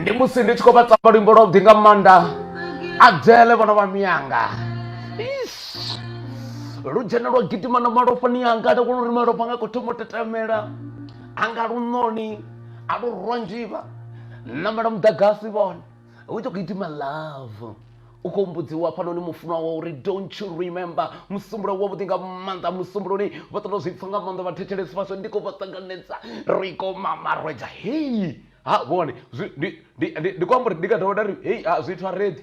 ndi musi ndi tshi khou vha tamba luimbo lwa vhuḓi nga maanḓa adzele vhana vha miyanga Ish. lu dzhena lwa gidima na malofhani anga nda kona uri malofha anga khou thoma u tetemela anga lunoni a lu rwa nzhivha namela muḓagasi vhone u ita u khou gidima love u khou mbudziwa hafhanoni mufunwa wa uri don't you remember musumbulo wavhuḓi nga maanḓa musumbuloni vha ṱoḓa zwi pfa nga maanḓa vhathetshelesi vhaswa ndi khou vha ṱanganedza ri khou mamarwedza hei ha vhone ndi khou amba uri ndi nga dovha nda ri hei zwithu a redi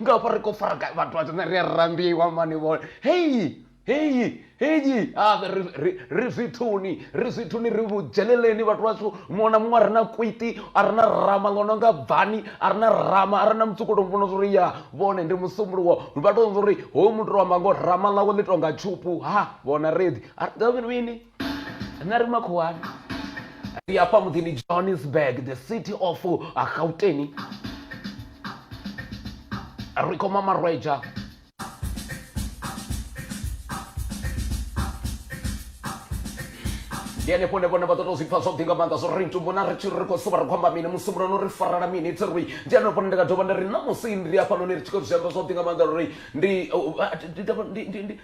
nga hafha ri khou fara gai vhathu vha tshoṱhe ri a rambiwa mani vhone heyi heyi heyi ave ri, ri, ri zwithuni ri zwithuni ri vhudzheleleni vhathu vhashu muṅwe na muṅwe a re na kwiti a re na rama ḽo no nga bvani a re na rama a re na mutsukulo mvona zwori ya vhone ndi musumbuluwo vha tou zwa uri hoyu muthu tou amba ngo rama ḽawe ḽi tonga tshupu ha vhona redi a ri dovhi mini nṋe ri makhuwani ri afha muḓini johannesburg the city of gauteni ri khoma marweja ndi henefho hune vhone vha ḓo to zwi pfa zwavhuḓi nga maanḓa zwo ri ntumbona ri tshiri ri khou suvha ri khou amba mini musumbulano ri farela mini thi ri ndi henefho hune ndi nga dovha nda ri na musi ndi afhanoni ri tshi khou zwi amba zwavhuḓi nga maanḓa uri ndi uh, uh, ndi- ndi- ndi- ndi-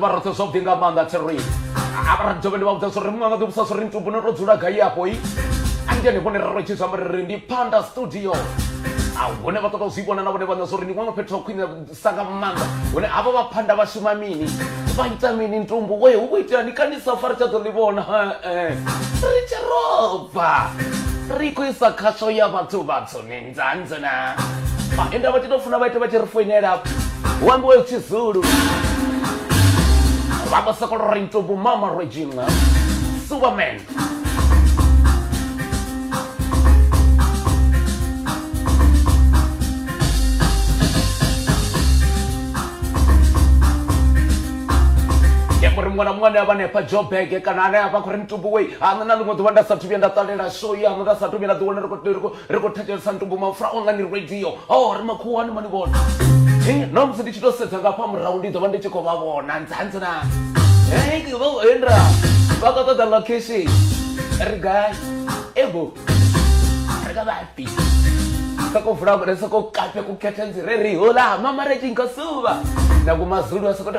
ri vha roṱhe zwavhuḓi nga maanḓa thi ri ri dovhe ndi vha vhudza zwo ri muṅwe nga ḓivhusa zwo ri ntubune ro dzula gai afho i andiyani vhone ri ro tshi zwi amba ri ri ndi panda studio ufhio a hune vha ṱoḓa u zwi vhona na vhone vhaṋe zwa uri ndi ṅwana fhethu ha khwinesa nga maanḓa hune havha vha phanda vha shuma mini vha ita mini ntumbu we hu vho itea ni kanisa fa ri tsha ḓo ḽi vhona ri tshi roba ri khou isa khasho ya vhathu vhathu ni nzanze na ende vha tshi tou funa vha ite vha tshi ri foinela hu ambiwe tshizulu vha vho sokolora ntumbu mama regina superman ndi amba uri muṅwe na muṅwe ane avha hanefha jobege kana ane avha a khou ri mitubuwei aṋe na ḽiṅwe ḓuvha nda sathu vhuya nda ṱalela show ya aṋe nda sathu vhuya nda ḓiwana ri khou- ri khou- ri khou thetshelesa ntumbu mapfura online radio o ri makhuwani mani vhona na musi ndi tshi tou sedza ngafha murahu ndi ḓo vha ndi tshi khou vha vhona ndzanzi na endra vha khou ṱoḓa location ri gai evo ri ka vhafi kha ko vula vhulesa ko kape ku khethe nzi re ri hola mama re tshi nka suva na kumazulu a sokoto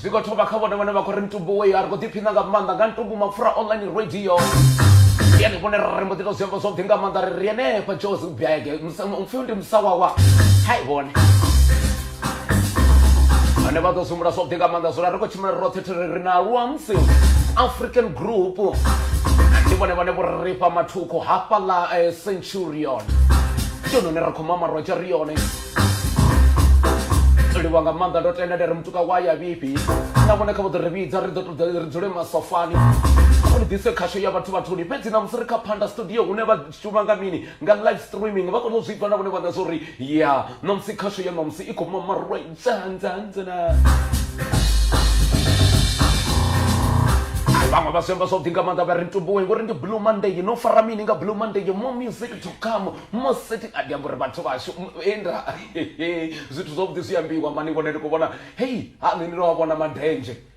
zwi khou thoma kha vhone vhane vha khou ri ntumbu wei a ri khou ḓiphina nga maanḓa nga ntumbu mapfura online radio ndi ane vhone ri mbo ḓi to zwiamba zwavhuḓi nga maanḓa ri ri henefha jozi bege mupfhiwo ndi musawawa hai vhone ane vha ḓo sumbula zwavhuḓi nga maanḓa zwona ri khou tshimela roṱhe thiri ri na luamsi african group ndi vhone vhane vho ri fha mathukhu hafha ḽa eh, centurion ndi hone ri khou mama rotsha ri yone livha nga maanḓa ndo tenda ndi ri mutuka wa ya vhifhi na vhone kha vho ḓo ri vhidza ri ḓo ṱoḓa ri dzule masofani ri ḓise khasho ya vhathu vhathuli fhedzi na musi ri kha phanda studio hune vha shuma nga mini nga live streaming vha kone u zwi pfa na vhone vhaṋa zwa uri ya ṋamusi khasho ya ṋamusi i khou mamarwa dzandzandzana vhaṅwe vha zwiamba zwavhuḓi nga maanḓa vha ri ntumbuwe ngori ndi blue monday no fara mini nga blue monday mo music to come mo setting a ndi amba uri vhathu vhashu enda zwithu zwavhuḓi zwi ambiwa mani vhone ndi khou vhona hei ha nṋe ndi no vha vhona madendzhe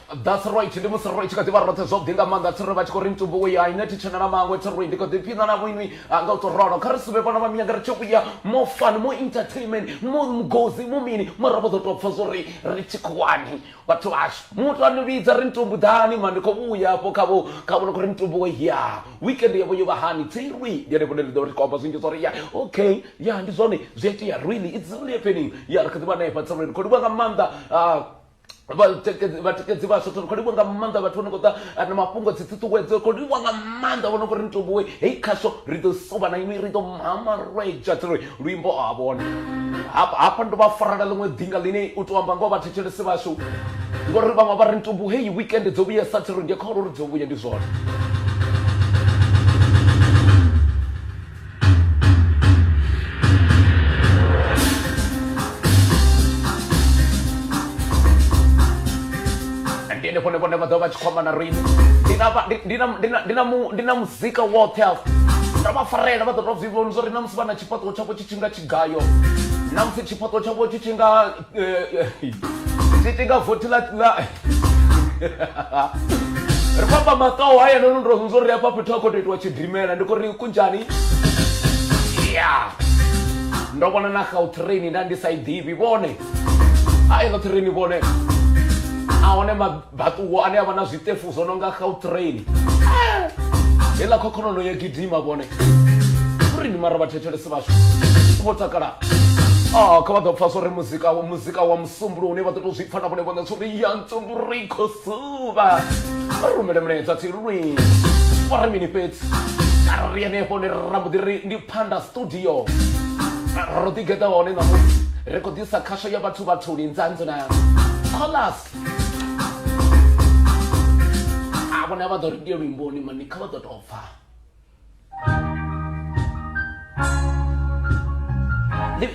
That's right, ndi musi ro tshi kha ḓi vha roṱhe zwavhuḓi nga maanḓa thiri vha tshi khou ri mutumbu wo ya ine thi tshena na maṅwe thiri ndi khou ḓi phiṋa na vhoinwi nga u tou rolo kha ri suvhe vhana vha minyanga ri tshi vhuya mo fun mo entertainment mo mugozi mo mini mara vha ḓo tou pfha zwo ri ri tshi khouwani vhathu vhashu muthu a ni vhidza ri mutumbu ḓani ma ndi khou vhuya hafho khavho kha vhona khou ri mutumbu wo ya weekend yavho yo vha hani thirwi ndi ane vhone ri ḓo ri khou amba zwinzhi zwo ri ya okay ya ndi zwone zwi a itea really it's really happening ya ri kha ḓi vha na efha thiri ri khou livha nga maanḓa ah, vhatikedzi vhatikedzi vhaswa tsho kholiwa nga maanḓa vhathu vhane khou ḓa na mafhungo dzi ṱuṱuwedzo kholiwa nga maanḓa vhone kuri ni tobuwe hei khasho ri ḓo suvha na inwi ri ḓo mamarwedzha tsiri luimbo a vhone hafha ndo vha farela ḽiṅwe ḓinga ḽine u to amba ngoho vhathetshelesi vhashu ngori vhaṅwe vha ri ntobu heyi weekend dzo vhuya sa thiri ndi kholo uri dzo vhuya ndi zwone ndi henefho ne vhone vha ḓo vha tshi khou amba na riṋe ndi na vha- ndi- ndi na- ndi na- ndi na mu- ndi na muzika woṱhe afho ndo vha farela vha ḓo tou zwi vhona zwa uri na musi vha na tshifhaṱuwo tshavho tshi tshi nga tshigayo na musi tshifhaṱuwo tshavho tshi tshi nga tshiti nga vothi ḽa ri khou amba makao haya no ndo zwo ri afha fhethu a khou tou itiwa tshidimela ndi khou ri kunjani ya ndo vhona na gautrain nda ndi sa i ḓivhi vhone a i gautrain vhone a hone Vhaṱuwo ane a vha na zwiṱefu zwo no nga Gautrain. Heiḽa khokholono yo gidima vhone. Uri ni mara vhathetshelesi vhashu vho takala. Oh, kha vha ḓo pfa uri muzika wa muzika wa musumbulo une vha ḓo tou zwi pfa na vhone vhone uri ya ntsumbulo i khou suvha. Vha rumele mulaedza tsilulwi. Vha ri mini fhedzi? Kha ri henefho hone ra mbo ḓi ri ndi Phanda Studio. Ro ḓigeḓa hone ṋamusi ri khou ḓisa khasho ya vhathu vhathuni nzanzana. Callers a vhona vha ḓo ri ndiyo luimboni mani kha vha ḓo tou pfa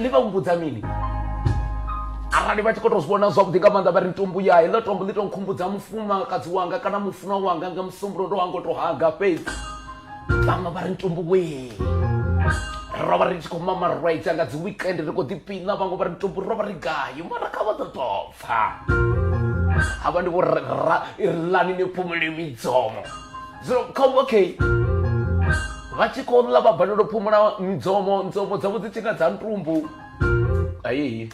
ḽi vha humbudza mini arali vha tshi khou tou zwi vhona zwavhuḓi nga maanḓa vha ri ntumbu ya heḽo tombo ḽi tou nkhumbudza mufumakadzi wanga kana mufunwa wanga nga musumbulo ndo wanga u tou haga fhedzi vhaṅwe vha ri ntumbu wee ro vha ri tshi khou mama rwaitsa nga dzi weekend ri khou ḓipina vhaṅwe vha ri ntumbu ro vha ri gayo mara kha vha ḓo tova pfa hava ndi vho irlani ni phumule midzomo zwino kha okay vha tshi khou ḽa vha balelwa phumula midzomo ndzomo dzavho dzi tshi nga dza ntumbu ayeyi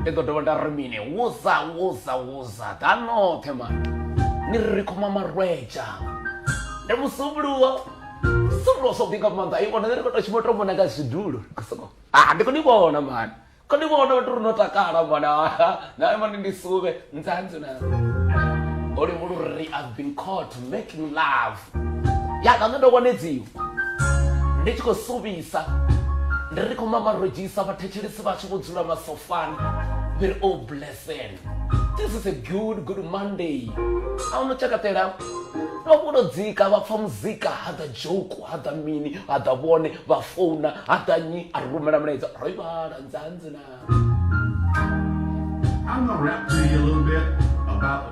ndi ḓo dovha nda ri mini wuza wuza wuza ḓa noṱhe ma ni ri khoma marwedza ndi musumbuliwo solo so big up manga i vhona ri khou tou shuma tou vhona nga zwidulo soko ah ndi khou ni vhona mani khou ni vhona vhathu ri no takala mani na mani ndi suvhe nzanzu na oli mulu ri i've been caught making love ya ka ndo konedziwa ndi tshi khou suvhisa ndi ri khou mamarojisa vhathetshelesi vhashu vho dzula masofani we're all blessed Listen, this is a good good monday a no tshakatela vha vhuno dzika vha pfa muzika ha ḓa joku ha ḓa mini ha ḓa vhone vha founa ha ḓa nyi a ri rumela mulaedza ro i vhala nzanzi na I'm gonna rap to you a little bit about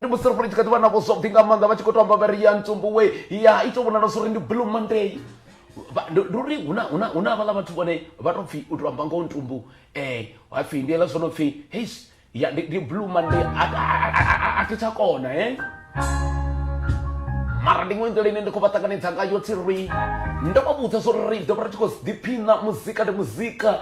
ndi musi ri fhole tshi kha ḓi vha na vhosofhi nga maanḓa vha tshi khou to amba vha ri ya ntsumbuwe ya i to vhonala zwo ri ndi blue monday Vha- ndi ndi uri hu na- hu na hu na havhaḽa vhathu vhone vha tou pfhi u tou amba ngoho ntumbu um ha pfhi ndi eḽa zwo no pfhi heis ya ndi ndi blue monday a- a- a- a- a- a thi tsha kona e mara ndi iṅwe nḓila ine ndi khou vha ṱanganedza ngayo tsi ri ndo vha vhudza zwo ri ri ḓo vha ri tshi khou ḓiphina muzika ndi muzika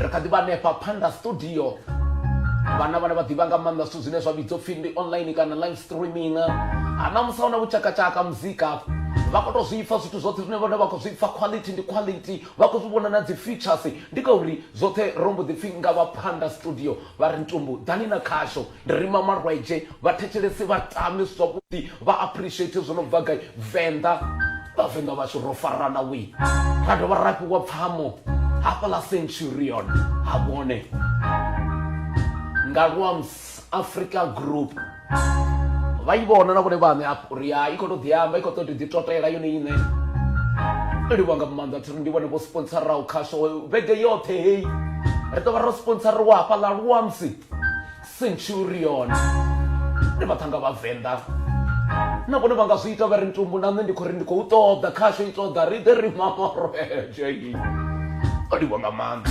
ri kha ḓi vha hanefha phanḓa studio vhana vhane vha ḓivha nga maanḓa zwithu zwine zwa vhidzwa pfhi ndi online kana live streaming hana musi huna vhutshakatshaka muzika vha khou tou zwi pfa zwithu zwoṱhe zwine vhone vha khou zwi pfa quality ndi quality vha khou zwi vhona na dzi features ndi ngauri zwoṱhe ro mbo ḓi pfhi nga vha phanḓa studio vha ri ntumbu ḓani na khasho Ndi rima malwadze vhathetshelesi vha tame zwavhuḓi vha appreciate zwo no bva gai venḓa vhavenḓa vhashu ro farana wi ra dovha ra fhiwa pfamo hafha ḽa centurion ha vhone nga luams africa group vha i vhona na vhone vhaṋe afho uri ya i khou tou ḓiamba i khou ṱoḓi ḓi totela yone iṋe livha nga maanḓa thiri ndi vhone vho sponsoraho khasho vhege yoṱhe heyi ri ḓo vha ro sponsoriwa hafha ḽa luamsi centurion ndi vhaṱhanga vhavenḓa na vhone vha nga zwi ita vha ri ntumbu na nṋe ndi khou ri ndi khou ṱoḓa khasho i ṱoḓa ri ḓe ri mamoroje o livha nga maanḓa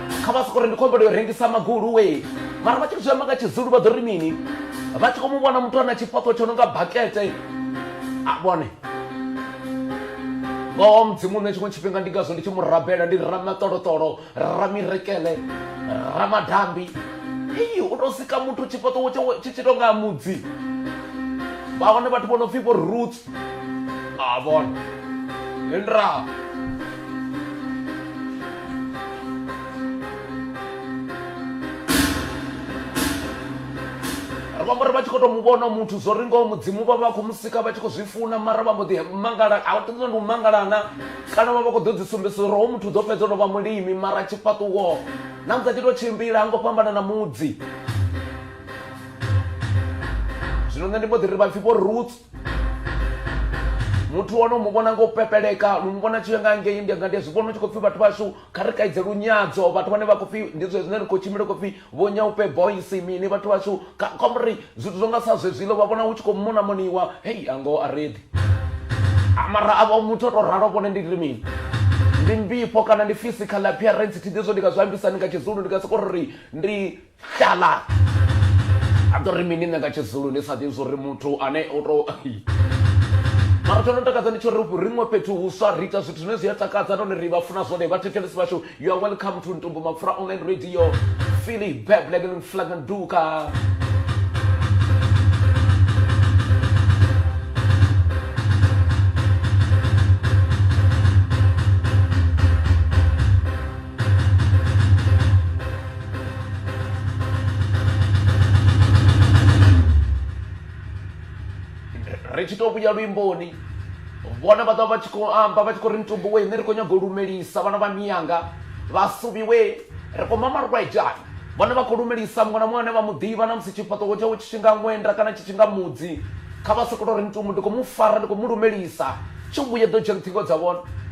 kha vha sokori ndi khou humbela u rengisa magulu we mara vha tshi zwi amba nga tshizulu vha ḓo ri mini vha tshi khou mu vhona muthu ana tshifhaṱo tsho no nga bakete a vhone ngoho mudzimu nṋe tshiṅwe tshifhinga ndi ngazwo ndi tshi mu rabela ndi ramaṱoloṱolo ramirekele ramadambi iyi u tou sika muthu tshifhaṱo tshi tshi tou nga mudzi vha hone vhathu vho no pfhi vho roots a vhone ndra vha mara vha tshi khou tou mu vhona muthu zwo ri ngoho mudzimu vha vha khou mu sika vha tshi khou zwi funa mara vha mbo ḓi mangala a vha ṱoḓi ndi u mangalana kana vha vha khou ḓo dzi sumbedzisa uri ho muthu ḓo fhedza no vha mulimi mara tshifhaṱuwo na musi a tshi tou tshimbila ha ngo fhambana na mudzi zwino nṋe ndi mbo ḓi ri vhapfhi vho roots muthu wano mu vhona nga u pepeleka lu mu vhona tshi nga ngei ndi nga ndi zwi vhona u tshi khou pfhi vhathu vhashu kha ri kaidze lunyadzo vhathu vhane vha khou pfhi ndi zwe zwine ri khou tshimbila khou pfhi vho nyaupe boys mini vhathu vhashu komri zwithu zwo nga sa zwezwilo vha vhona hu tshi khou mona moniwa hei ango a redi mara avho muthu o tou ralo vhone ndi ri mini ndi mbifho kana ndi physical appearance thi ḓi zwo ndi nga zwi ambisani nga tshizulu ndi nga soko ri ndi Hlala! A ḓo ri mini nṋe nga Tshizulu ndi sa ḓivhi zwori muthu ane o to mara tsho no takadza ndi tsho ri riṅwe fhethu huswa ri ita zwithu zwine zwi a takadza nahone ri vha funa zwone vhathetshelesi vhashu you are welcome to ntumbu mapfura online radio philly beblegel flagan duka ri tshi tou vhuya luimboni vhona vha ḓa vha tshi khou amba vha tshi khou ri mutumbu we nṋe ri khou nyaga u lumelisa vhana vha miyanga vha suviwe ri khou mama rwejani vhona vha khou lumelisa muṅwe na muṅwe ane vha mu ḓivha na musi tshifhaṱuwo tshawe tshi tshinga ṅwenda kana tshi tshinga mudzi kha vha sokoto ri mutumbu ndi khou mu fara ndi khou mu lumelisa tshi vhuye ḓo dzhia ṱhingo dza vhona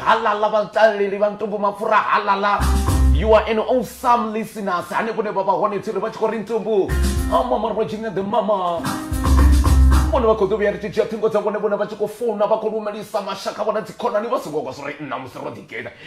halala vhataleli vha ntumbu mapfura halala you are an awesome listeners hanefho ne vha vha hone tsiri vha tshi khou ri ntumbu amama ro dzhine the mama vhone vha khou ḓo vhuya ri tshi dzhia ṱhingo dza vhone vhone vha tshi khou founa vha khou lumelisa mashaka vhona dzikhonani vha songo kwa zwo ri nna musi ro ḓigeḓa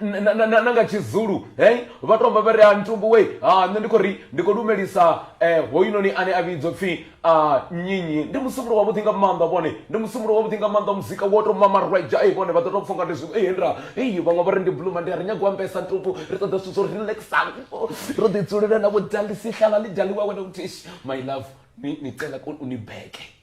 na, na, na, na nga tshizulu hey vha tomba vha ri a ntumbu we ha nṋe ndi khou ri ndi khou lumelisa eh, hoyunoni ane a vhidzwa pfhi a nyinyi ndi musumbulo wavhuḓi nga maanḓa vhone ndi musumbulo wavhuḓi nga maanḓa muzika wo tou mamarwedzha ei vhone vha ḓo tou pfha nga ndi zwi ei nda ei vhaṅwe vha ri ndi bluma ndi a ri nyago ambesa ntumbu ri ṱoḓa zwithu zwo relaxaho ro ḓidzulela na vhudalisi hlala ḽi daliwa wena utishi my love ni, ni cela ku unibeke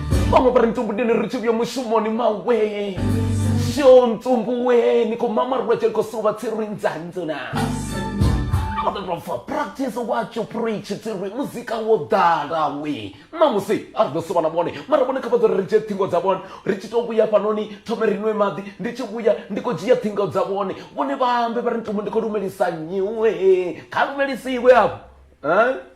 vhaṅwe vha ri ntumbudeni ri tshi vhuya mushumoni mawe sho ntsumbuweni ko mama ri lwetshe ko suva tsi ri nzanzuna aototofa practice what you preach tsi ri muzika wo ḓala we ṋamusi a ri ḓo suva na vhone mara vhone kha vha ḓo ri ri dzhie ṱhingo dza vhone ri tshi tou vhuya fhanoni thome ri nwe maḓi ndi tshi vhuya ndi khou dzhia ṱhingo dza vhone vhone vha ambe vha ri ntumbu ndi khou lumelisa nyiwe kha lumelisiwe afho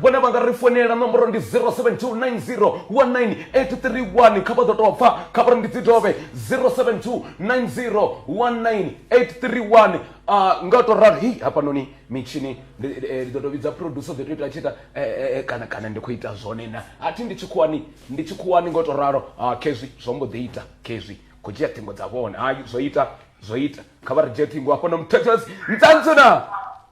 vhone vha nga ri founela nomboro ndi 0729019831 kha vha ḓo tou pfa kha vha ri ndi dzi dovhe 0729019831 a nga to ralo hei hafhanoni mitshini ndi eh, ḓo to vhidza producer ḓo to ita tshiita eh, eh, kana kana ndi khou ita zwone na a thi ndi tshikhuwani ndi tshikhuwani nga to ralo ah, khezwi zwo mbo ḓi ita khezwi khou dzhia ṱhingo dza vhone hai zwo ita zwo ita kha vha ri dzhie ṱhingo hafhano muthethesi ntsantsu na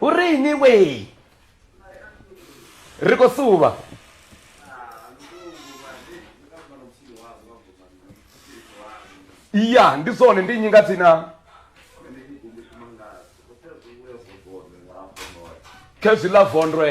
hu ri ini wee ri khou suvha ya ndi zwone ndi nnyi nga dzina khezwi ḽa vondwe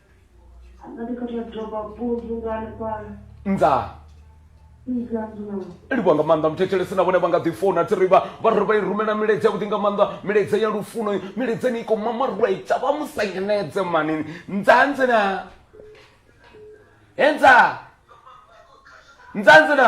Angati kuti yadzoka bhunzu ngani pano. nzaa Iza ndinono. livha nga maanḓa muthetshelesi na vhone vha nga ḓi founa thi ri vha vha ri vha i rumela milaedza yavhuḓi nga maanḓa milaedza ya lufuno milaedza ni i khou mamarwaita vha mu sa nyenedze manini nzanzi na he nzaa nzanzi na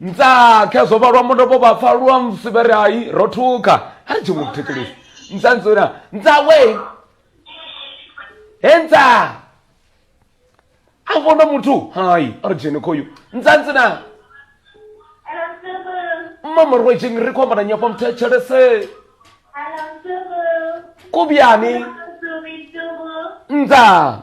ntsa khe zwo vhalwa mundo vho vha pfa lwa msivere hai ro thuka ha ri tshi mu thikilisa ntsa ntsona ntsa we he ntsa a vona muthu hai a ri dzheni khoyu ntsa ntsina mama ro dzheni ri khou amba na nyafha muthetshelese kubiyani ntsa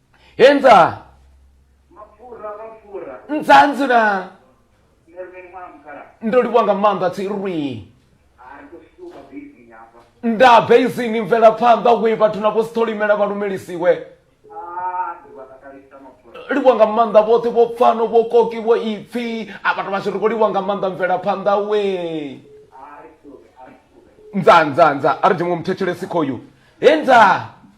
Henza. Mapfura, mapfura. Nzanzi na. Ndo livhuwa nga maanḓa tsi rwi. Nda basing mvela phanḓa we vhathu na vho sitholimela vha lumelisiwe. livhuwa nga maanḓa vhoṱhe vho pfano vho koki vho ipfi a vhathu vhashu ri khou livhuwa nga maanḓa mvelaphanḓa we nza nza nza a ri dzhe muṅwe muthetshelesi khoyu he nza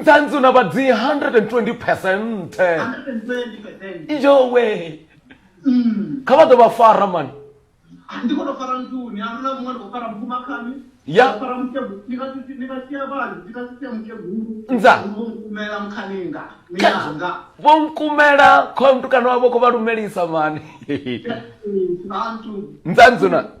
nzanzu na vhadzi 120 percent yowe mm. kha vha ḓo vha fara mani vho nkumela khoyo mutukana wavho kho vha lumelisa mani nzanzuna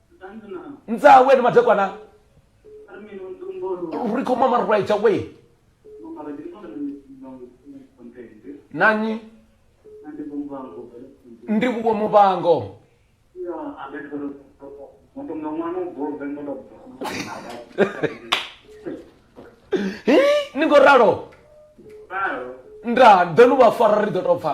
ndzaa wena madekwana ri khou mama right away nanyi ndi vhuwo muvhango hi ni ngo ralo nda ḓo ni vha fara ri ḓo tou pfa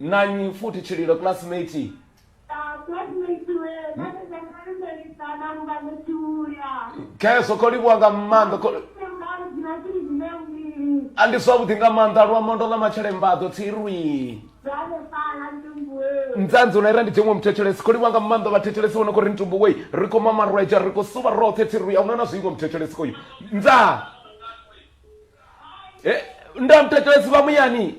na nnyi futhi tshililo classmate kheso kho livhuwa nga maanḓa kho- a ndi zwavhuḓi nga maanḓa luamondo ḽa matshelembaḓo tsirwi nzanzi u naira ndi dziṅwe muthetshelesi kho livhuwa nga maanḓa vhathetshelesi vho no khou ri ntumbu wei ri khou mama rweja ri khou suvha roṱhe tsirwi a huna na zwiingo muthetshelesi koyu nza Eh, nda muthetshelesi vha muyani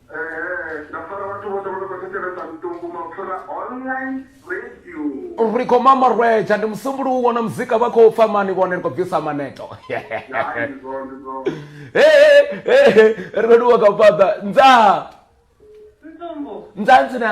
ri khou mama rwetsha ndi musumbulu u wona muzika vha khou pfa mani vhone ri khou bvisa maneto ri khou duwa kha u fhaḓa nzaa nzaa ntsina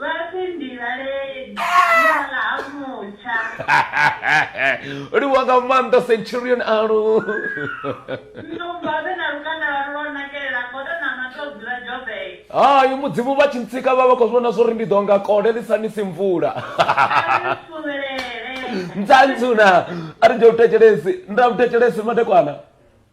Vhafhi Mbilaleli ane vha ḽa ha mutsha. Livhuwa nga maanḓa Centurion Alu. Nndumba vhe na lukanda lwalu lwo nakelela godo na matodzi vha Joburg. Hai Mudzimu vha tshi ntsika vha vha khou vhona zwori ndi ḓo nga kole ḽi sa nisi mvula. A ri suvhelele. Ndzanzuna a ri nde u thetshelesi nda u thetshelesi madekwana.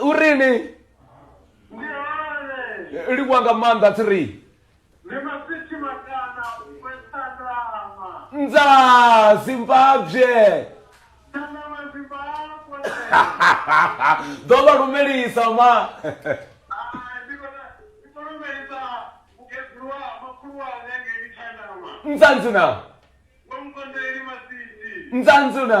u ri ni livhuwa nga maanḓa three ndza zimbabwe ḓo vha lumelisa ma nzanzuna nzanzuna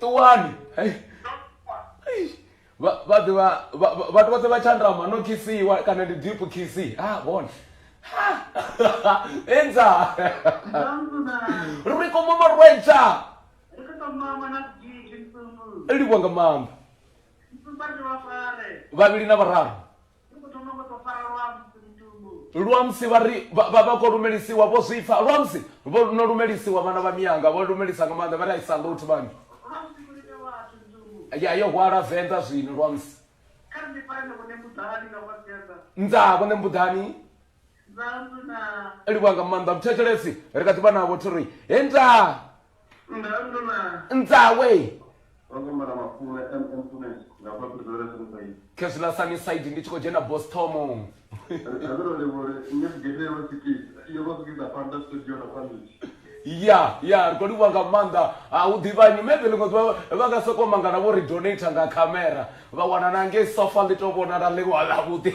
ṱuwani hei Eish. Vha- vha ḓivha vha- vha- vhathu vhoṱhe vha tshandama no khisiwa kana ndi deep khisi ha vhone enza ri koma marwedza livhwa nga maanḓa vhavhili na vhararu lwamusi vha ri vha vha khou lumelisiwa vho zwi pfa lwamusi vho no lumelisiwa vhana vha miyanga vho lumelisa nga maanḓa vha ri aisa lothi vhani ya yo hwala venḓa zwino lwamusi ndaa vhone mbuḓani livha nga maanḓa mthetshelesi ri kha ḓi vha navho thi ri he ndaa nzawe khezula sunnyside ndi tshi khou dzhena bostomo ya ya ri khou livhuwa nga maanḓa a u ḓivhanyi maybe ḽiṅwe ḓuvha vha nga sokou mangana vho ri donata nga khamera vha wana na ngei sofa ḽi to vhonala ḽi lwa ḽavhuḓi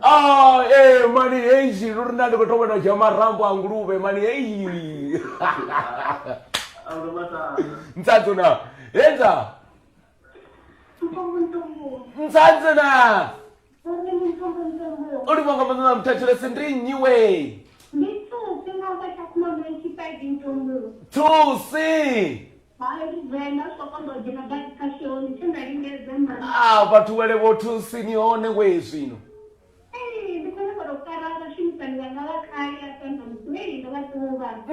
ah, ee mani heyi lu ri nda ndi khou to vhona dzhia marambo a nguluvhe mani heyi ntsadzona hedza nsanzana uri vhanga mwana muthatshiresi ndi nnyi we thusi a vhathu wele vho thusi ni hone we zwino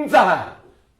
nza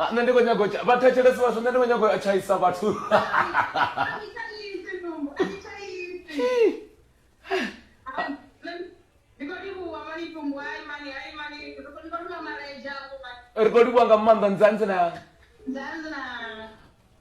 Ah, nṋe ndi khou nyago vha thetshelesi vhashu nṋe ndi khou nyago a tshaisa vhathu ri khou livhuwa nga maanḓa nzanzi na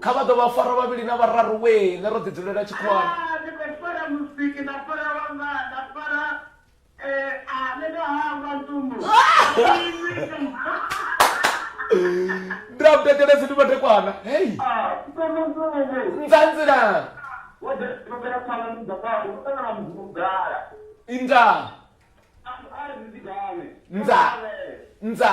kha vha ḓo vha fara vhavhili na vhararu we ne ro ḓidzulela tshikhuwani ndiramutekelesi ndi matekwana hei nzanzila inda nza nza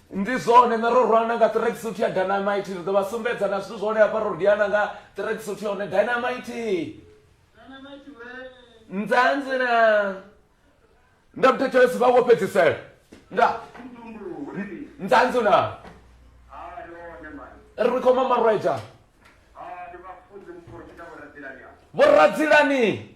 Ndi zwone, nṋe ro rwana nga ṱirekisuthu ya Dynamite. Ri ḓo vha sumbedza na zwithu zwa hone hafha. Ro diana nga ṱirekisuthu ya hone Dynamite. Nzanzi na. Nda muthetshelesi vha wo fhedzisela. Nda. Nzanzi na. Ri khou mamarwedza. Vho Radzilani.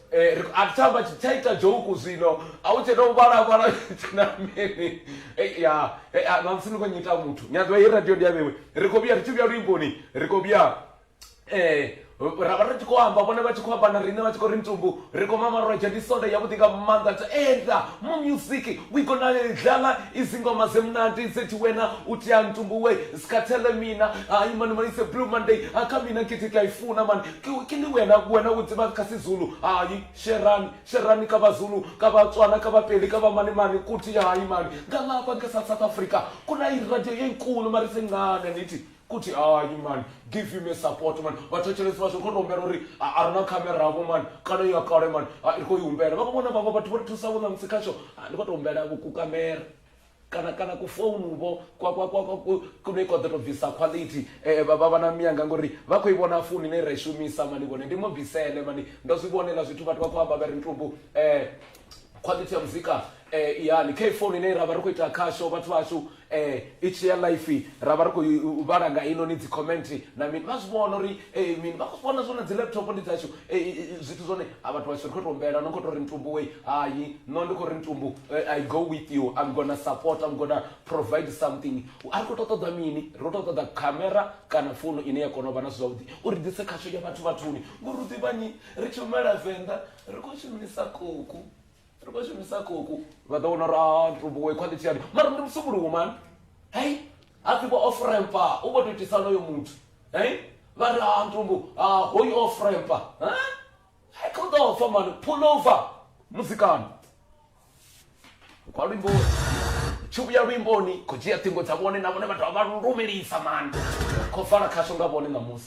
Eh, ri khou athamba tshithaitha dzhouku zwino a u tshena u vhalavhala na mini Eh, ya eh, ah, ṋamusi ni khou nyita muthu ni a ḓivha ye radio ndi ya vhewe ri khou vhuya ri tshi vhuya luimboni ri khou vhuya eh ra vha ri tshi khou amba vhone vha tshi khou amba na riṋe vha tshi khou ri ntumbu ri khou mamarwedzha ndi sonda yavhuḓi nga maanḓa to enda mu music we gonna dlala izingoma zemnandi zethi wena utia ntumbu we sikhathele mina hayi mani mani se blue monday akamina kithi kuyayifuna mani Ke, ke le wena, wena o tseba ka Sezulu, hayi, Sherani, Sherani ka Bazulu, ka Batswana, ka Bapedi, ka Bamanemane, kuthi, hayi mani, ngalapha ke South, South Africa, kuna iradio enkulu mara isencane, nithi, kuthi, hayi mani, give him a support mani, vhathetshelesi vhashu ri khou humbela uri, a, a ri na camera vho mani, kana i ya kale mani, a, ri khou i humbela, vha khou vhona vhaṅwe vhathu vho ri thusaho ṋamusi khasho, a, ndi khou tou humbela ku, ku camera. kana kana ku founu vho kwa kwa kwa kwa kune kwa ḓo to bvisa quality eh vha vha na miyanga ngori vha khou i vhona founu ine ra i shumisa mani vhone ndi mo bvisele mani ndo zwi vhonela zwithu vhathu vha khou amba vha ri ntumbu eh quality ya muzika eh yani kha founu ine ra vha ri khou ita khasho vhathu vhashu eh i tshi ya life ra vha ri khou vhala nga ino ni dzi comment na mini vha zwi vhona uri eh mini vha khou vhona zwone dzi laptop ndi dzashu Ei zwithu zwone ha vhathu washu ri khou tou humbela no khou tou ri ntumbu wei hai no ndi khou ri ntumbu eh, i go with you i'm gonna support i'm gonna provide something a ri khou tou ṱoḓa mini ri khou tou ṱoḓa khamera kana founu ine ya kona u vha na zwithu zwavhuḓi uri ḓise khasho ya vhathu vhathuni ngori u ḓivhanyi ri tshi humela venḓa ri khou shumisa koku ri khou shumisa koku vha ḓo vhona uri a ntumbuwe khwalithi yani mara ndi musumuluwo mani hei ha pfi vho ofrempa u vho to itisa honoyo muthu hei vha ri a ntumbu a hoyu ofrempa hei kha u ḓo fa mani pulova muzikani kwa luimbo tshi vhuya luimboni khou dzhia ṱhingo dza vhone na vhone vha dovha vha lumelisa mani khou fara khasho nga vhone ṋamusi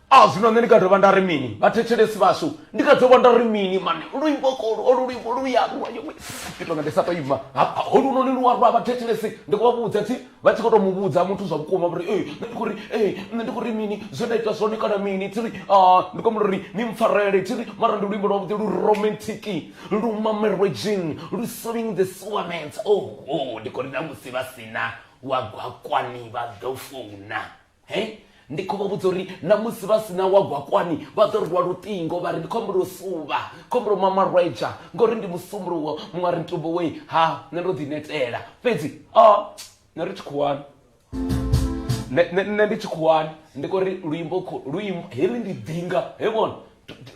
A zwino nṋe ndi nga dovha nda ri mini vhathetshelesi vhashu ndi nga dovha nda ri mini mane luimbo kolu olu luimbo lu ya rwa yo ndi tonga ndi sa to ima hafha holu no ni lu rwa vhathetshelesi ndi khou vha vhudza thi vha tshi kho to mu vhudza muthu zwa vhukuma vhuri ee nṋe ndi khou ri ee nṋe ndi khou ri mini zwe nda ita zwone kana mini thi ri a ndi khou ri ni mpfarele thi ri mara ndi luimbo lwa vhuḓi lu romantic lu mamelwe dzhing lu swing the sewer mans oh oh ndi khou ri na musi vha sina wa gwakwani vha ḓo founa. he ndi khou vha vhudza uri na musi vha sina wa gwakwani vha ḓo ri lwa luṱingo vha ri ndi khombo lwo suvha khombo lwo mama rwedzha ngori ndi musumbuluwo muṅwe ri ntumbo wei ha nṋe ndo ḓi netela fhedzi a oh, nṋe ri tshikhuwani nṋe ndi tshikhuwani ndi kho ri luimbo luimbo heli ndi ḓinga he vhona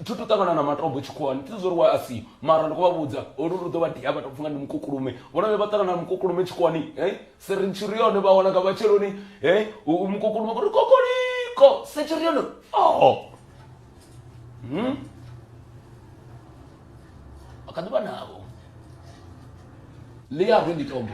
tsho to ṱangana na matombo tshikhuwani thi zwo ri wa a si mara ndi khou vha vhudza olu lu ḓo vha dia vha tou pfhi nga ndi mukukulume vhona vhe vha ṱangana na mukukulume tshikhuwani e serintshiri yone vha wana nga matsheloni e mukukulume kuri kokoliko sentshiri yone o hmm? a kha ḓi vha navho ḽi a rwe ndi tombo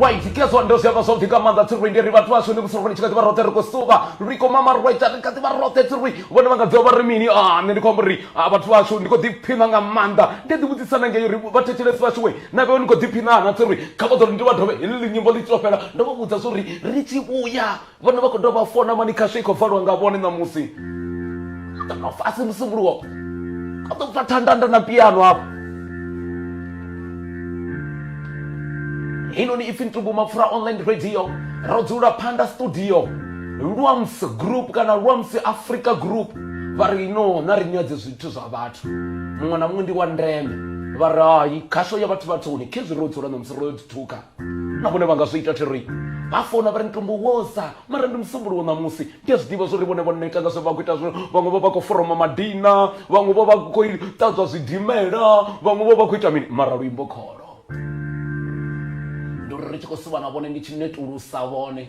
Right, tikezwa ndo zwiamba zwavhuḓi nga maanḓa tsirwi ndi ri vhathu vhashu ni vhusiku ni tshi kha ḓivha roṱhe ri khou suvha ri khou mama right ri kha ḓivha roṱhe tsirwi vhone vha nga ḓivha vha ri mini a nṋe ndi khou amba uri a vhathu vhashu ndi khou ḓiphiṋa nga maanḓa ndi ḓi vhudzisa na ngei uri vhathetshelesi vhashu we na vhewe ni khou ḓiphiṋa na tsirwi kha vha ḓo ri ndi vha dovhe heḽi nyimbo ḽi tshi to fhela ndo vha vhudza zwa uri ri tshi vhuya vhone vha khou dovha vha fona mani khasho i khou valwa nga vhone ṋamusi kana a si musumbulowo a ḓo pfa thandanda na piano hafho heinoni ipfi ntumbu mapfura online radio ro dzula phanda studio lwams group kana lwams africa group vha ri no na ri nyadze zwithu zwa vhathu muṅwe na muṅwe ndi wa ndeme vha ri hai khasho ya vhathu vhathuni khezwi ro dzula ṋamusi ro yo ḓithuka na vhone vha nga zwi ita thiri vha fona vha ri mutumbo woza mara ndi musumbuluwo ṋamusi ndi a zwi ḓivha zwori vhone vho neta nga zwe vha khou ita zwino vhaṅwe vho vha khou foroma madina vhaṅwe vho vha khou ṱadzwa zwidimela vhaṅwe vho vha khou ita mini mara luimbo kholo ndi uri ri tshi khou suvha na vhone ndi tshi netulusa vhone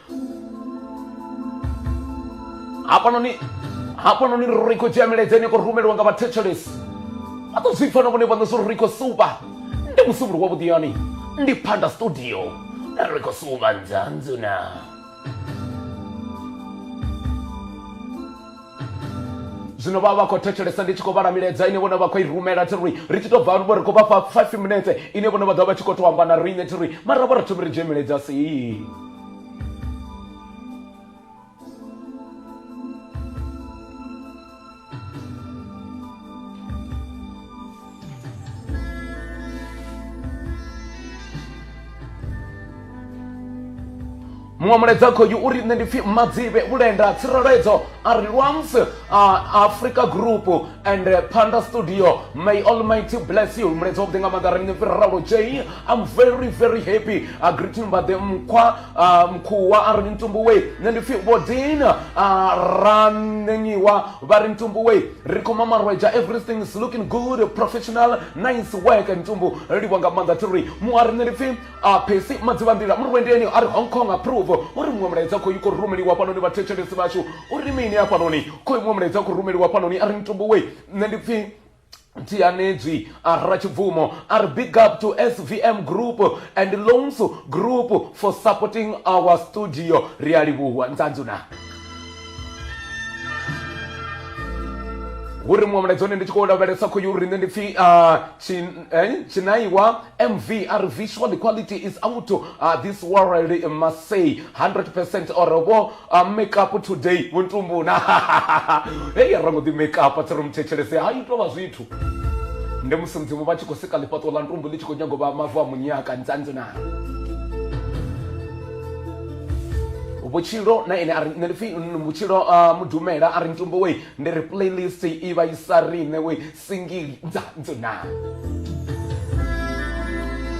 hafhanoni hafhanoni ri khou dzhia milaedza ine ya khou rumeliwa nga vhathetshelesi vha ḓo zwi pfa na vhone vhaṋe zwo ri khou suvha ndi musumbulo wa vhuḓiyani ndi phanda studio ri khou suvha nzanzuna zwino vha vha khou thetshelesa ndi tshi khou vhala milaedza ine vhone vha khou i rumela thi ri ri tshi tou bva vho ri khou vha fha five minutes ine vhone vha ḓo vha tshi khou tou amba na riṋe thi ri mara vho ri thomi ri dzhie milaedza sii muṅwe mulaedza khoyu uri nṋe ndi pfhi madzivhe vhulenda tsireledzo a ri lwams africa group and uh, panda studio may almighty bless you mulaedza wavhuḓi nga maḓa rine pfhi ralo j i'm very very happy uh, greeting mbade mkhwa uh, mkhuwa a ri ntumbu wei nṋe ndi pfhi vhodina uh, ranenyiwa vha ri ntumbu wei ri khou mamarweja everything is looking good professional nice work ntumbu ri livha nga maanḓa thiri mu a riṋe ri pfhi a phesi madzivhanḓila murwendeni a ri hong kong approve u ri muṅwe mulaedza khoyu khou rumeliwa fhanoni vhathetshelesi vhashu u ri mini hafhanoni khoyu muṅwe mulaedza khou rumeliwa fhanoni a ri ntumbu we nṋe ndi pfhi tianedzwi arra chibvumo are big up to svm group and loans group for supporting our studio ri a livhuwa nzanzuna hu ri muṅwe mulaedza one ndi tshi khou lavhelesa khoyu uri nṋe ndi pfhi tshinaiwa mv a ri visual equality is out uh, this world must say 100 percent or vho uh, make up today vho ntumbuna hei ra ngo ḓi make up a tsi ri muthetshelese ha ito vha zwithu ndi musi mudzimu vha tshi khou sika ḽifhaṱo ḽa ntumbu ḽi tshi khou nyago vha mavu a munyaka nzanzina vhutshilo na ene ari nṋe pfi vhutshilo ah, mudumela ari ntumbo we ndi ri playlist i vha isa riṋe we singili dza dzona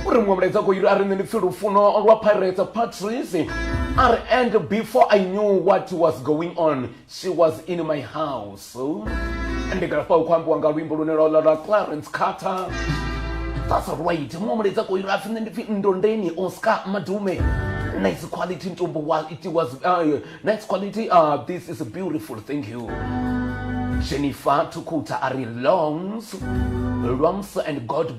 uri muṅwe mulaedza khou yiri a ri nṋe ndi pfi lufuno lwa pirates patrice a ri and before i knew what was going on she was in my house ndi nga lafha u khou ambiwa nga luimbo lune lwa lwa clarence carter that's right muṅwe mulaedza koi lwa pfi nṋe ndi pfi ndondeni oscar madume nice quality ntombo while it was uh, nice quality uh, this is beautiful thank you jennifer tukuta ari longs lwamsa and god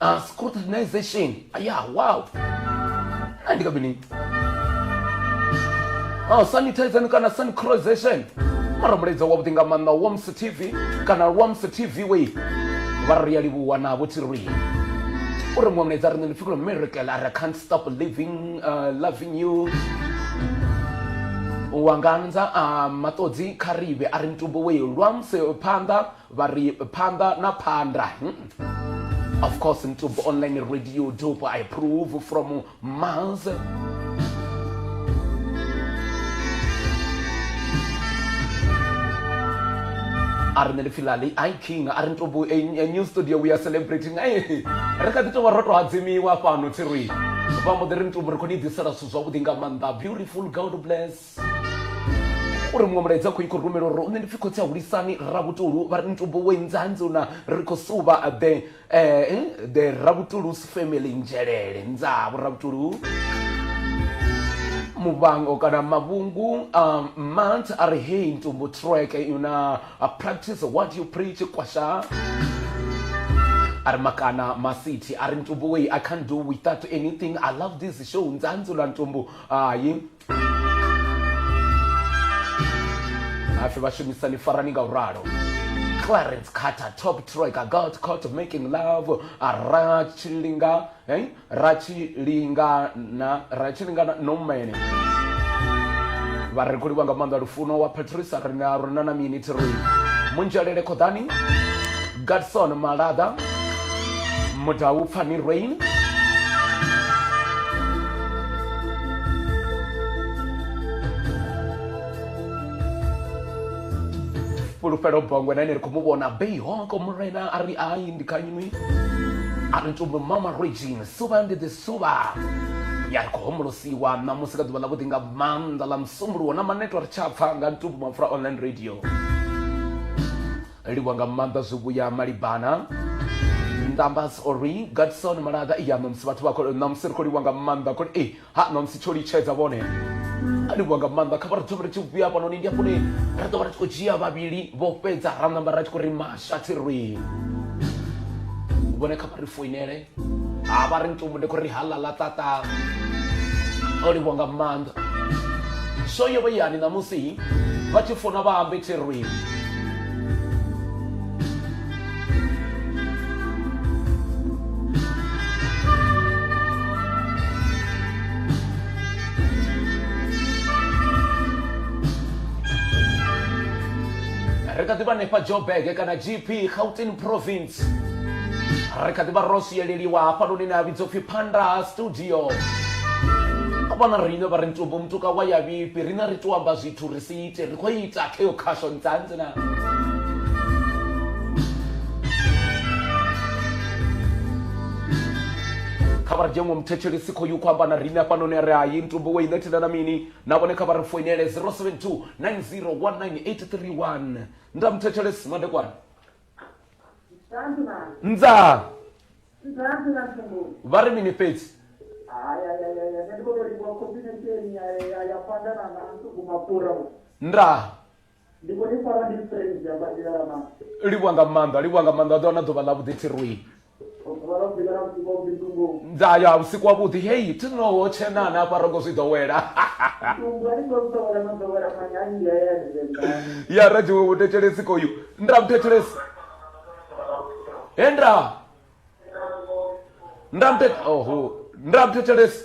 uh, scrutinization aya wow a ndi ka mini uh, sanitization kana sancrozation mara mulaedza wavhuḓi nga maanḓa wams tv kana wams tv wei vha ri ya livhuwa navho thi ri uri muṅwe mulaedza riṋe ndi pfhi kulo miracle ara can't stop living uh, loving you wanganza a maṱodzi kha rive a ri mutumbo wei lwa musi phanḓa Vha ri phanḓa na phanḓa hmm. Of course Mtubo online radio dope I approve from Maz. a ri nṋe ndi pfhi lali i king a ri ni tobu eh, eh, new studio we are celebrating ei eh, ri kha ḓi tovha ro to hadzimiwa fhano thirui vha mbo ḓi ri ni tobu ri khou ni ḓisela zwithu zwavhuḓi nga maanḓa beautiful god bless uri muṅwe mulaedza khou ikhou rumela uri nṋe ndi pfi khotsi a hulisani rabutulu vha ri ntubo we nzanzi una ri khou suvha the eh, the rabutulu's family nzhelele nzavho rabutulu muvango kana mavhungu um, mant a ri hei ntumbu track una uh, practice what you preach kwasha a ri makana masiti a ri ntumbu wei i can't do without anything i love this show nzanzi una ntumbu hayi hafe vhashumisani farani nga u ralo clarence carter top troika gold court of making love ra tshilinga hey? ra tshilingana ra tshilingana nomene vha ri kuliwa nga maanḓa lufuno wa patricia rina rina na mini thiroi munzhelele khoḓani Gadson Malaḓa, Mudau Pfani Rain, Fhulufhelo Bongwe na ene ri khou mu vhona Bayhawk Murena a ri ai ndi kha inwi a ri tumbu mama Regine suvha ndi ḓi suvha ya ri khou homolosiwa ṋamusi nga ḓuvha ḽavhuḓi nga maanḓa ḽa musumbuluwo na maneto a ri tsha pfha nga ntumbu mapfura online radio Livhuwa nga maanḓa zwivhuya malibana. Numbers or ring Gadson Malaga ya ṋamusi vhathu vha khou ṋamusi ri khou livhuwa nga maanḓa khou eh ha ṋamusi tsho litshedza vhone a livhuwa nga maanḓa kha vha ri thome ri tshi vhuya hafhanoni ndi hafhoni ri ḓo vha ri tshi khou dzhia vhavhili vho fhedza ra ṋamba ra tshi khou ri mashathi rwi vhone kha vha ri foinele ha vha ri ntsumbu ndi khou ri hala ḽa ṱaṱa o livhuwa nga maanḓa so yo vha yani ṋamusi vha tshi funa vha ambe therwi ri kha ḓi vha hanefha joburg kana gp gauteng province ri kha ḓi vha ro swieleliwa hafhanoni ne a vhidzwa upfhi phanda ha studio vhona riṋe vha ri ntumbu mutuka wa ya vhifhi riṋe ri to amba zwithu ri si ite ri khou ita kha yo khasho ntsantsi na kha vha ri dzhengo muthetshelesi khoyu khou amba na riṋe hafhanoni a ri hayi ntumbu we i ṋethela na mini na vhone kha vha ri foinele 072 9019831 nda muthetshelesi madekwana nzaa vha ri mini fhedzi ndaa livhuwa nga maanḓa livhuwa nga maanḓa vha ḓo wana ḓuvha ḽa vhuḓi thirwii nda ya vhusiku wavhuḓi hei thi noho tshenani afha rongo zwi ḓowela ya radziwe vhuthetshelesi koyu nda vhuthetshelesi he nda nda muthe oho nda muthethelesi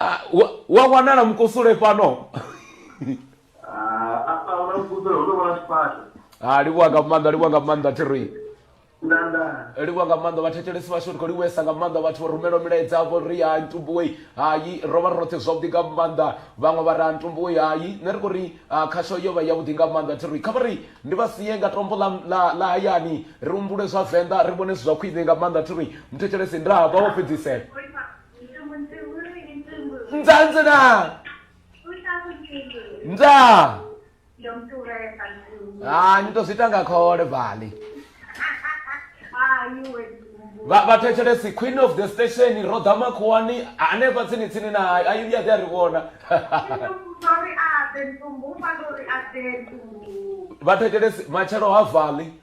Ah, wa, wa wanala mkusule pano Ah, apa unakuza unaona sipata. Ah, liwa kamanda liwa kamanda tiri Nanda. liwa kamanda vathetshelesi vashu ri khou liwesa nga maanḓa vhathu vho rumela milaedza avho ri hai ntumbuwei hai ro vha ri roṱhe zwavhuḓi nga maanḓa vhaṅwe vha ri ha ntumbuwei hai nṋe ri khou ri ah, khasho yo vha yavhuḓi nga maanḓa thi ri kha vha ri ndi vha sie nga tombo ḽa- ḽa ḽa hayani ri humbule zwa venḓa ri vhone zwi zwa khwine nga maanḓa thi ri muthetshelesi ndaa vha wo fhedzisela nzanzina nza ah ni to zwi ita nga khole vali vha vha thetshelesi queen of the station ro ḓa makhuwani hanefha tsini tsini na hayi ayi vhuya ḓi a ri vhona vha thetshelesi matshelo ha vali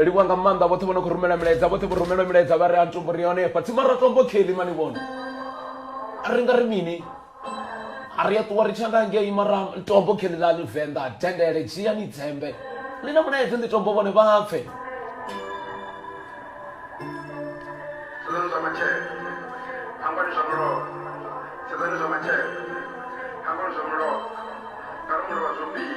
livhuwa nga maanḓa vhoṱhe vho no khou rumela milaedza vhoṱhe vho rumelwa milaedza vha ri a ntombo ri ya hone fhatsi mara tombo kheli mani vhona a ri nga ri mini a ri a ṱuwa ri tshi anda ngei mara tombo kheli ḽa ni venḓa dendele dzhia ni dzembe ḽi na mulaedzi ndi tombo vhone vha pfe sedzani zwa matshelo hangwani zwa mulomo sedzani zwa matshelo hangwani zwa mulomo nga ri mulovha zwo mbili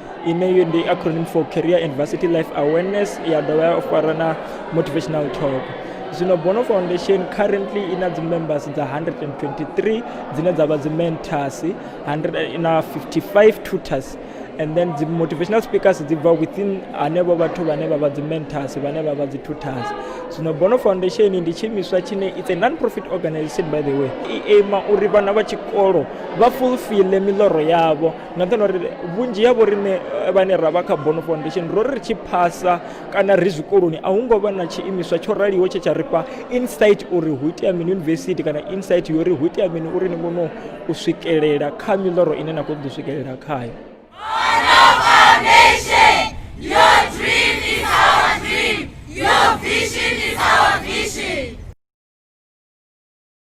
ine ndi acronym for career and varsity life awareness ya dovha ya fara na motivational talk zwino bono foundation currently ina dzimembers dza 123 dzine dza vha dzimentors 155 tutors and then the motivational speakers they were within anebo bathu bane baba the mentors bane baba the tutors so no bono foundation ndi tshimiswa tshine it's a non profit organization by the way i aima uri vhana vha tshikolo vha fulfille miloro yavho na nṱhani uri vhunzhi ha vhoriṋe vhane ra vha kha bono foundation ro ri tshi phasa kana ri zwikoloni a hu ngo vha na tshiimiswa tsho raliho tshe tsha ri fha insight uri hu itea mini yunivesithi kana insight yori hu itea mini uri ni kone u swikelela kha miḽoro ine na khou ḓo swikelela khayo